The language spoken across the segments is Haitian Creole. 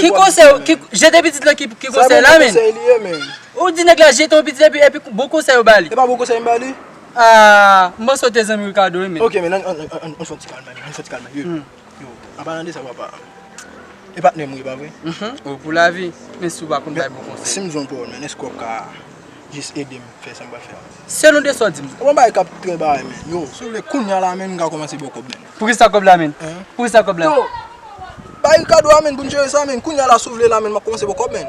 Ki konsèy ou ki jete pitit lan ki konsèy la menm? Ou di nèg la jete yon pitit epi epi bon konsèy ou bali? Aah m panse ou te zanmi Ricardo wi menn. Poukisa kòb la menn? Poukisa kòb la? Yo! Bay li kado a menn pou n jere sa menn. Kounya la si w vle la menn m ap kòmanse ba w kòb menn.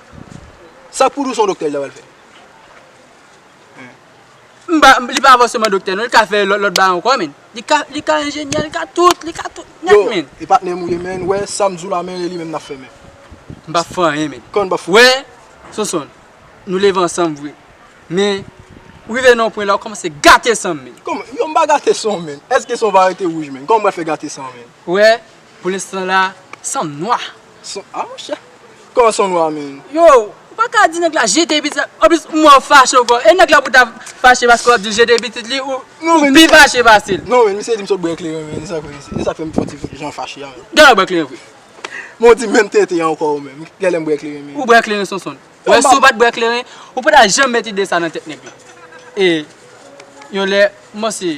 Sak pou nou son doktè li ta pral fè? Li pa fòseman doktè non li ka fè lòt bagay ankò menn Li ka enjenyè li ka tout li ka tout nèt menn Yo e patnèm ou ye menn wè sam diw la menn e li menm nap fè menn M pap fè anyen menn Kòman nou pap fè anyen menn Wè Sonsonn nou leve ansanm vre men ou rive nan yon pwen la ou kòmanse gate sanm menn Kòman yo m pa gate sanw menn èske sanw pa rete wouj menn kòman m pral fè gate sanw menn Wè. Pou l'instant la son nwa. Son ah monchè Kòman son nwa menn. Yow ou paka di nèg la jete pitit la an plis ou wè ou fache ou fò e nèg la pou ta fache paske wap dil jete pitit li ou pi fache pasel. Non menn misye di m sot bwè ekleren menn esak vre se esak fèm fon ti jan fache a menn. Genlè ou bwè kleren vre. Men ou di menm tenten an ankò ou menm genlè m bwè kleren menn. Ou bwè kleren Sonsonn. Wè si ou pat bwè kleren ou pata janm met ide sa nan tèt nèg la e yon lè m panse.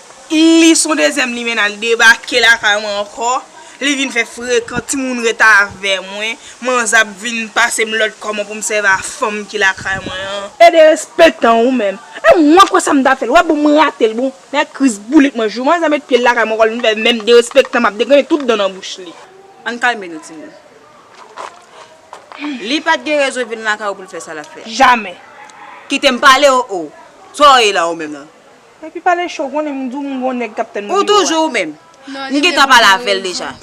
Li son dezyèm limenna li debake lakay mwen ankò li vin fè frekan timoun ret avè mwen manzè ap vin pasem lòd kòman poum sèvi a fanm ki lakay mwen an. E derespektan ou menm. E mwen kwè sam ta fèl wè bon mwen ratel bon nèg kriz boulit mwen jou manzè met pyel lakay mwen ankò li vin fè menm derespektan map degrennen tout dan nan bouch li. Ann kalme nou timoun. Li pat gen rezon vin lakay ou poul fè sa lap fè. Jamè. Kitem pale oh oh. Saw ye la ou menm nan. Epi pale cho konnen m diw m gon nèg kap tann Ou toujou ou menm? M gentan pale avèl deja.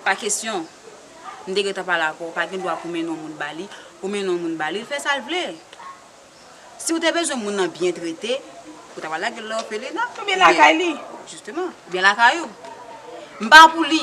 Pa kesyon. M te gentan pale avèw, ou pa gen dwa pou mennen yon moun ba li, ou mennen yon moun ba li, li fè sal vle. Siw te bezwen moun nan byen trete, ou ta pral lagel nan òfelina. Oubyen lakay li. Jisteman. Oubyen lakay ou. M pa pou li.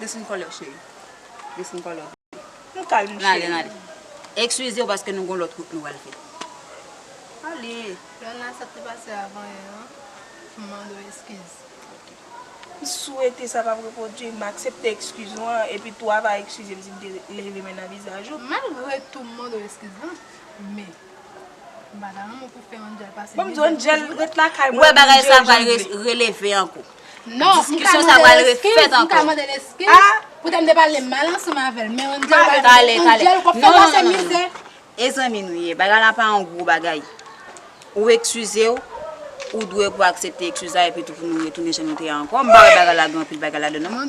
Desin kòlè w cheri. Desin kòlè w bebe. Nou kalm cheri. Nale nale. Ekswize w paske nou gon lòt wout nou pral fè. Ale. Yon nan sa te pase avan yè an. M mande w ekskiz. Ok. M swete sa pap repwodui. M aksepte ekskiz ou an. Epi tou a va ekskize m si m te leve men nan vizaj ou. Malgre tou m mande w ekskiz lan. Men. Ou wè bagay sa pral releve anko. Diskisyon sa pral refèt anko. Tale, tale. Non, non, non, non. E zanmi nou ye. Bagay la pa yon gwo bagay. Ou ekskize ou, ou dwe pou aksepte ekskiz la epitou pou nou retounen jan nou te ye anko. M pa wè bagay la gen anpil bagay ladan l non.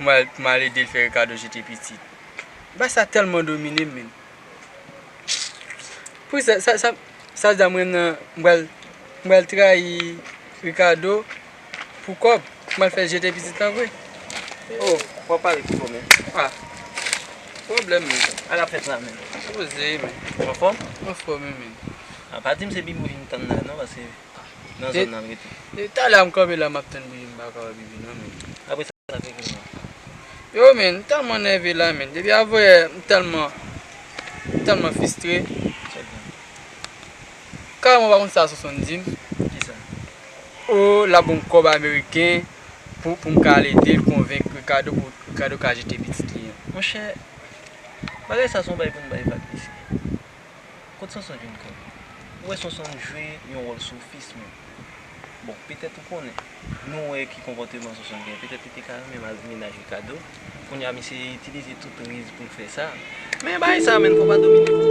Mwen al ede l fè Ricardo jete pitit. Bass la tèlman domine m menn. Pou sa sa sa sa sa m renmn nan m pral m pral trayi Ricardo pou kòb m al fè l jete pitit lan vre. Oh wap pale pi fò menn. Ah pwoblèm menn. Ala ap fèt la menn. Poze menn. Ou anfòm? Mwen anfòme menn. Ah pa di m se bib ou vin tann la non paske. nan zòn nan rete. Depi talè a m kanpe la map tann bibi m paka wè bibi nan menn. Apresa sa te vini an. Yo menn m tèlman nève la menn depi avanyè m tèlman m tèlman fistre. Chèk gang. Carman pa konn sa Sonson di m. Kisa? Oh lap ban m kòb ameriken pou pou m ka al ede l konvenk Ricardo pou Ricardo ka jete pitit li an. Monchè bagay sa son bagay pou n bay vag mesye. Kot Sonson vin konn? Ou wè Sonson jwe yon wòl sofis menm. Bon, petèt ou konnen. Nou wè ki konpòteman Sonson gen. Petèt li te ka renmen mal vini naj Rikado. Kounya misye itilize tout riz pou l fè sa. Men bagay sa menn fò pa domine l.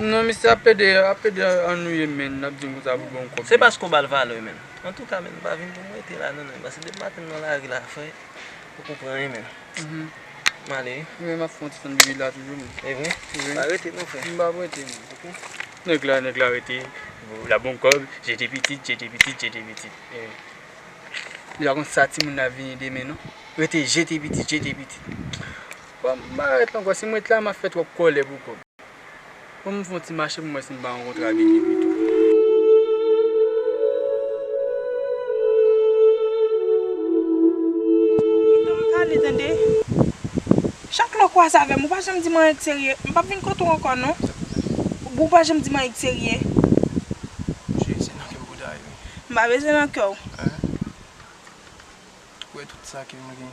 Non misye ap plede ap plede annwiye menn nap dim konsa pou bon kob. Se paske ou bal valè menn. Antouka menn pa vin pou m rete la non menn paske depi maten m nan lari la fre fok ou pran 1 menn. M ale wi. Mwen menm map fon ti tann bibila toujou menn. Evre? Pa rete non fre. M pap rete non. Ok. Nèg la nèg la rete la bon kob jete pitit jete pitit jete pitit. Li pa konn sa timoun nan ap vini demen non. Rete jete pitit jete pitit. Bon m pa ret ankò si m ret la map fè twòp kòlè pou kòb bon m fon ti mache pou m wè si m pa rankontre ak Gigi pito. Pito m pale tande chak lè w kwaze avè m ou pa janm di m anyen k serye m pap vin kote w ankò non ou pa janm di m anyen k serye. Bouche se nan kè w bouda ye wi. M pa bezwen nan kè w. Ou wè tout sa ke m gen.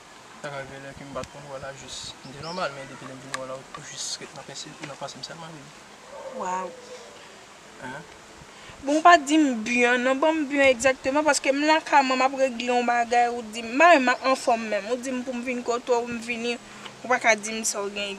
Ta ka gen lè ke m pa t konn wè w la jis m te nòmal men depi lè m vin wè w la ou jis ret nan panse nan panse m sèlman baby. Waww bon ou pa di m bgy an non ban m bgy an egzakteman paske m la kay mwen m ap regle yon bagay ou di m m pa menm anfòm menm ou di m pou m vin kote w m vini ou pa ka di m sa w gen.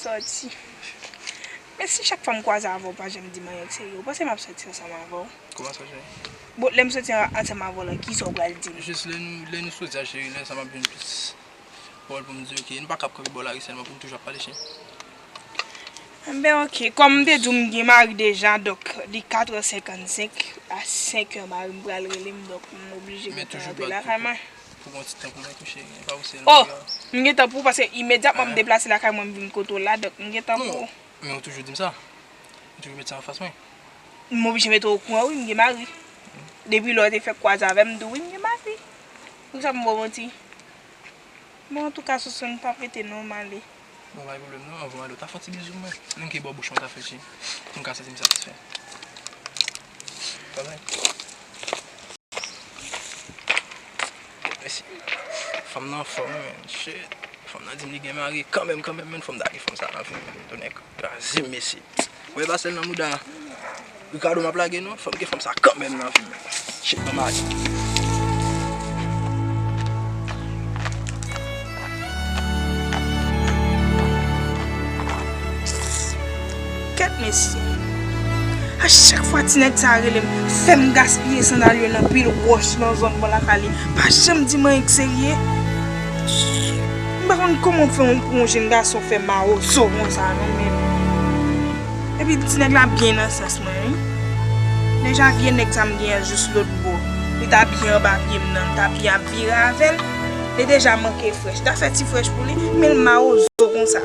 Sòti. Men si chak fwa m kwaze avè w pa janm di m anyen de serye, ou panse m ap sòti ansanm avè w? Kòman sa cheri? Bon, lè m sòti ansanm avè w la, kisa ou pral di m? Jis lè nou, lè nou sòti a cheri, lè sa m ap jwenn plis pawòl pou m di w ke nou pa kab kanpe bò lari sèlman pou nou toujou ap pale cheri. Enben ok, kòm m te di w m gen mari deja, donk li katrè senkannsenk, a senkè mari m pral rele m, donk m oblije gentan rantre lakay mwen. Oh, m gentan pou ou paske imedyatman m deplase lakay mwen m vin kote w la donk m gentan pou ou. Men ou toujou di m sa. Ou toujou met sa anfas mwen. M oblije mete w okouran wi m gen mari. Depi lè w te fèk kwaze avè m m di w wi m gen mari. Poukisa m ba w manti? Bon antouka Soso n pa prete non m ale. Bon bagay problème nan anvan ale ou ta fon ti bizou mwen menm ki bò bouch mwen ta fè ti pou m ka santi m satisfè pa vre mèsi fanm nan anfòm wi menn shitt fanm nan di m li gen mari kanmenm kanmenm menn fò m ta gen fanm sa nan vi m tonnè kraze m mesye. Wè basèl nan mouda Ricardo map lage non fòk gen fanm sa kanmenm nan vim Shit banm atik. Kèt mesye A chak fwa ti nèg sa relem fèm gaspiye sandal yo nan pil wòch nan zòn bon lasalin pa janm dim anyen k serye. M pa konn kòman pou yon jenn gason fè mawozo konsa non men. Epi ti nèg la byen nan sans mwen wi. Deja vye nèg sa m genyen l jous lotbo. Li ta byen anba pye m nan m ta byen ap vire avè l. Li deja manke frèch. M ta fè ti frèch pou li men l mawozo konsa.